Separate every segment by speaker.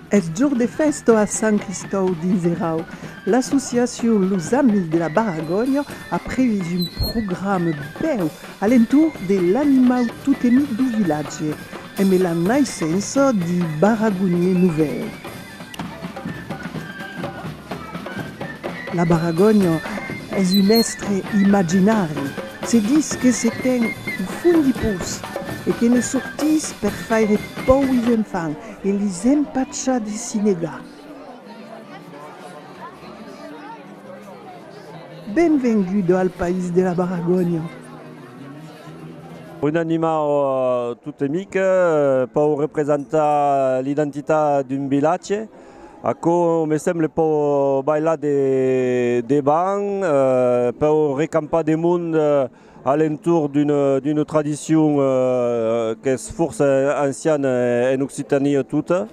Speaker 1: Eth jorn de fèsta a Sant Cristòu dins Erau, l'associacion Los Amis de la Baragònia a previst un programa bèu a l'entorn de l'animau totemic dau vilatge, emé la naissença d'un baragonier novèl. La baragònia es un èstre imaginari, se ditz que se ten au fond du pous e que ne sortís per faire pòur is enfants e lis empachar de s'i negar. Benvenguda al país de la baragònia!
Speaker 2: Un animau tot e mic pòu representar l'identitat d'un vilatge, aquò me semble pòu balhar de debant, pòu recampar de mond a l'entorn d'una tradicion qu'es fòrça anciana en Occitània tota.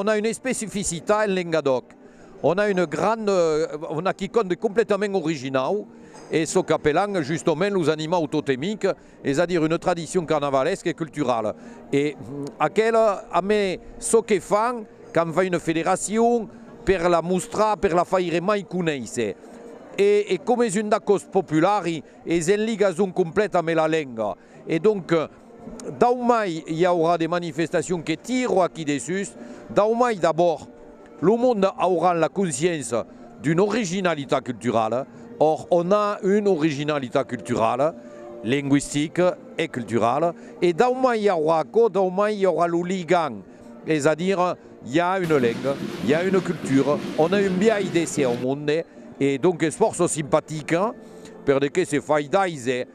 Speaker 3: On a une especificita en Lengadòc, on a une grande, on a quicòm de completament originau, es çò qu'apèlan justement los animaux totemics, es a dire una tradicion carnavalesca e culturala, e aquela a me çò que fan quand fai una federacion per la mostrar, per la faire mai conéisser, e e coma es un d'acòst populari es en ligason complèt ame la lenga, e donc dau mai i aurà de manifestacion que tiro aquí dessús, dau mai d'abòrd, Lo monde auràn la consciéncia d'una originalitat culturala, or on a una originalitat culturala, lingüistica e culturala, e daumai i aurà aquò, daumai i aurà lo ligam, es a dire, i a una lenga, i a una cultura, on a un biais d'èsser au monde, e donques fòrça simpatica, per de qué se fai d'aiser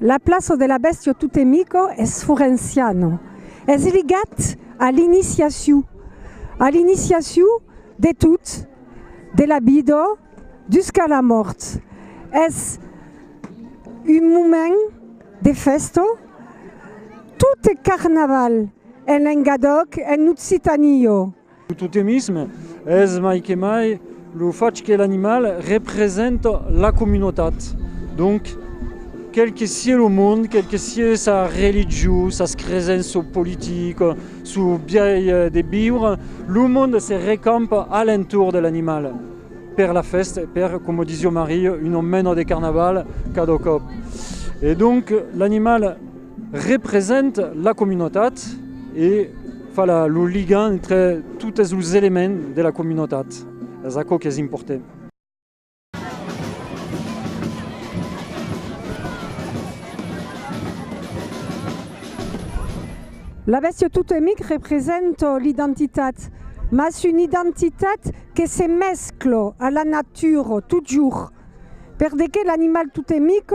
Speaker 4: La plaça de la bèstia totemica es forenciano, es ligat a l'iniciaciu, a l'iniciaciu de tot, de la vida jusca la mòrt. Es un moment de fèsta, tot es carnaval en Lengadòc, en Occitania. Lo totemisme
Speaker 5: es mai que mai lo fach que l'animal representa la comunotat. Donc, quel que sié lo monde, quel que sié sa religion, sas cresenças politicas, son biais de viure, lo monde se recampa a l'entorn de l'animal per la fèsta, per, coma disiá Maria, una mena de carnaval cada còp. E donc, l'animal. Represent la comunotat e fa lo ligant entre totes los elements de la comunotat. Es aquò qu'es important.
Speaker 4: La bèstia totemic represent l'identitat, mas una identitat que se mescla a la natura totjorn, perdeque l'animal totemic,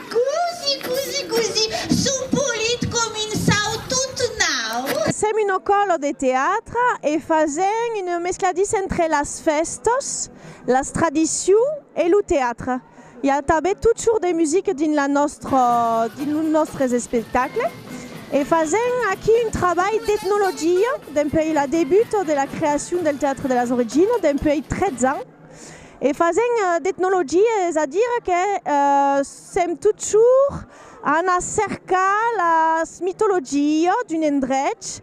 Speaker 6: Cosi, cosi, cosi, sò polit com un sau tot nau. Sèm una
Speaker 7: còla de teatre e fasèm una mescladissa entre las fèstas, las tradicions e lo teatre. I a tanben tot sort de musica dins la nòstra, dins los nòstres espectacles. E fasèm aquí un trabalh d'etnologia dempuèi la debuta de la creacion del Teatre de las Originas, dempuèi 13 ans. E fasent d'etnologia es a dire que sèm totjorn a anar cercar la mitologia d'un endrech,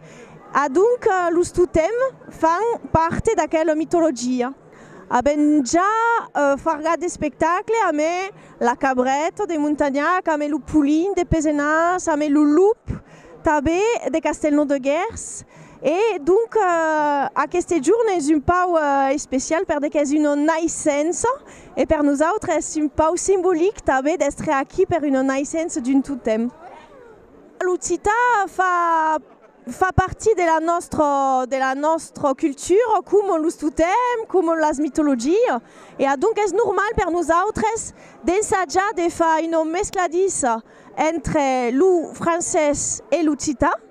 Speaker 7: adonc los totèms fan parte d'aquela mitologia. Avèm ja fargat d'espectacle amé la cabreta de Montagnac, amé lo polin de Pesenàs, amé lo lop tanben de Castelnau de Gèrs. E donc aqueste jorn es un pau especial per de qu'es una naissença e per nosautres es un pau simbolic tanben d'èstre aquí per una naissença d'un totem. L'occitan fa fa partir de la nòstra de la nòstra cultura coma los totems, coma las mitologias e adonc es normal per nosautres d'ensajar de far una mescladissa entre lo francés e l'occitan.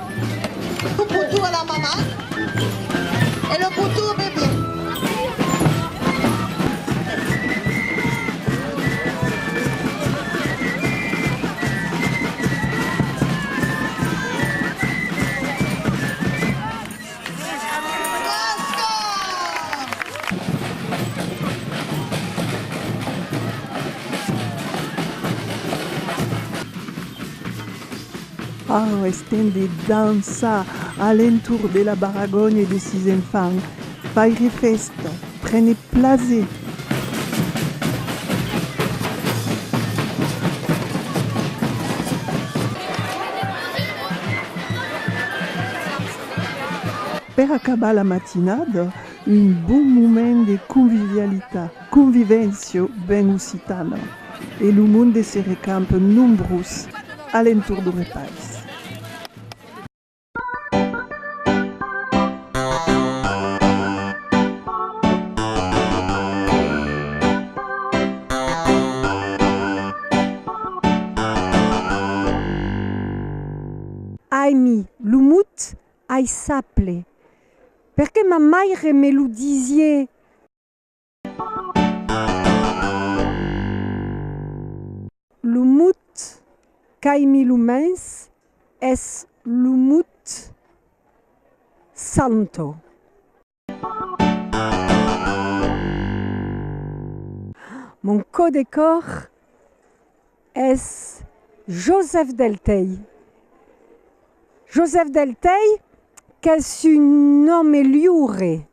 Speaker 6: Lo potou a la mama e lo potou au bebé.
Speaker 1: Parents estent de dançar a l'entorn de la barragonha de sis enfants. Faire fèsta, prene plaser. Per acabar la matinada, un bon moment de convivialitat. Convivencio ben occitana e lo monde se recamp nombrós a l'entorn du repais.
Speaker 4: Ai mi, lo mot ai saple, perque ma maire me lo disié. Lo mot qu'ai mis lo mens es lo mot santo. Mon cò de còr es Joseph Delteil. Joseph Delteil qu'es un òme liure.